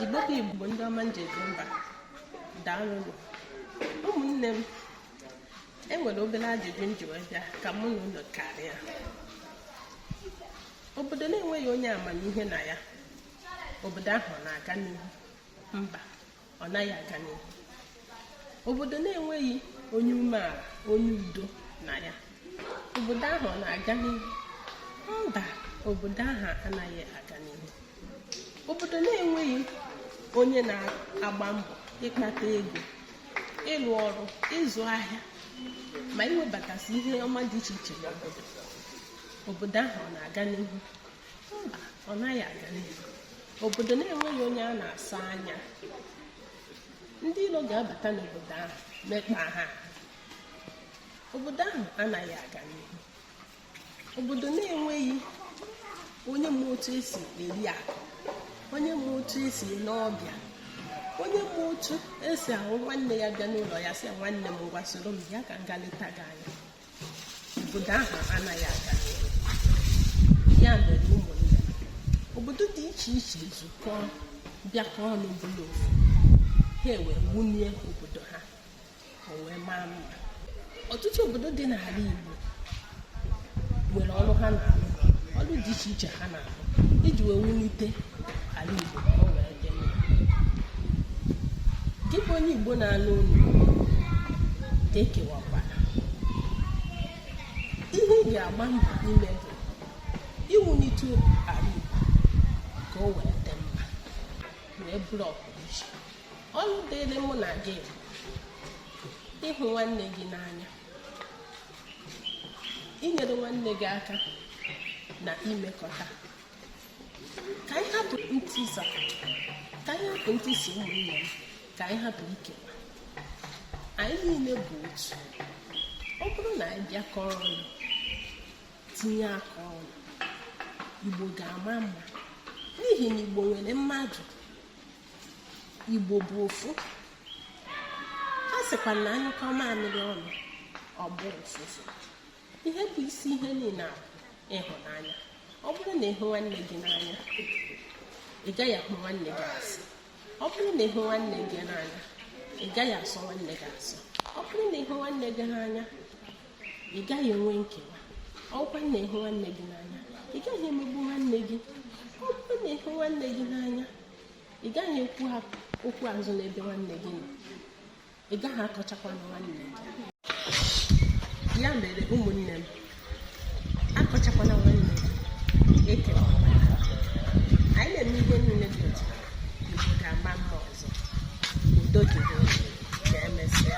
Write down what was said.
Igbo bụ Igbo ndị ọma eji eje mba daalụnụ ụmụnne m enwere obere ajụjụ m ji wee bịa ka mụ na unu karịa obodo na-enweghị onye amamihe na ya obodo ahụ ọ na-aga n'ihu mba ọ naghị aga n'ihu obodo na-enweghị onye umeala onye udo na ya obodo ahụ ọ na-aga n'ihu mba obodo ahụ anaghị aga n'ihu obodo na-enweghị onye na-agba mbọ ịkpata ego ịrụ ọrụ ịzụ ahịa ma iwebatasị ihe ọma dị iche iche n'obodo obodo ahụ ọ na-aga n'ihu mba ọ naghị aga n'ihu obodo na-enweghị onye a na-asọ anya ndị ilo ga-abata n'obodo ahụ mekpa ha obodo ahụ anaghị aga n'ihu obodo na-enweghị onye ma otu esi eri akụ onye ma otu esi ele ọbịa onye ma otu esi ahụ nwanne ya bịa n'ụlọ ya sị nwanne m ngwa soro m ya ka m gaa leta gị anya obodo ahụ anaghị aga n'ihu ya mere ụmụnne obodo dị iche iche zukọọ bịakọ ọnụ bụrụ ofu ha ewee wunie obodo ha o wee maa mma ọtụtụ obodo dị n'ala Igbo nwere ọrụ ha na-arụ ọrụ dị iche iche ha na iji wee wulite ala Igbo ka o wee dị mma gị bụ onye Igbo na-anụ olu ka ekewakwara ihe ị ga-agba mbọ ime bụ iwulite ala Igbo ka o wee dị mma wee bụrụ ọpụrụiche ọrụ dịrị mụ na gị ịhụ nwanne gị n'anya inyere nwanne gị aka na imekọta ka anyị hapụ ntisa ka anyị hapụ ntị isi ụmụnne m ka anyị hapụ ikewa anyị niile bụ otu ọ bụrụ na anyị bịakọ ọnụ tinye aka ọnụ igbo ga-ama mma n'ihi na igbo nwere mmadụ igbo bụ ofu a sịkwa na anyụkọọ mamịrị ọnụ ọ gbọọ ụfụfụ ihe bụ isi ihe niile a bụ ịhụnanya ọ bụrụ na ịhụ nwanne gị n'anya ị gaghị ahụ nwanne gị asị ọ bụrụ na ịhụ nwanne gị n'anya ị gaghị asọ nwanne gị asọ ọ bụrụ na ịhụ nwanne gị n'anya ị gaghị enwe nkewa ọ bụkwa na ịhụ nwanne gị n'anya ị gaghị emegbu nwanne gị ọ bụrụ na ịhụ nwanne gị n'anya ị gaghị ekwu okwu azụ n'ebe nwanne gị nọ ị gaghị akọchakwa nwanne gị ya mere ụmụnne m akọchakwana nwanne gị ekwere m anyị na-eme ihe niile dị otu a igbo ga-ama mma ọzọ udo dịrị ka emesịa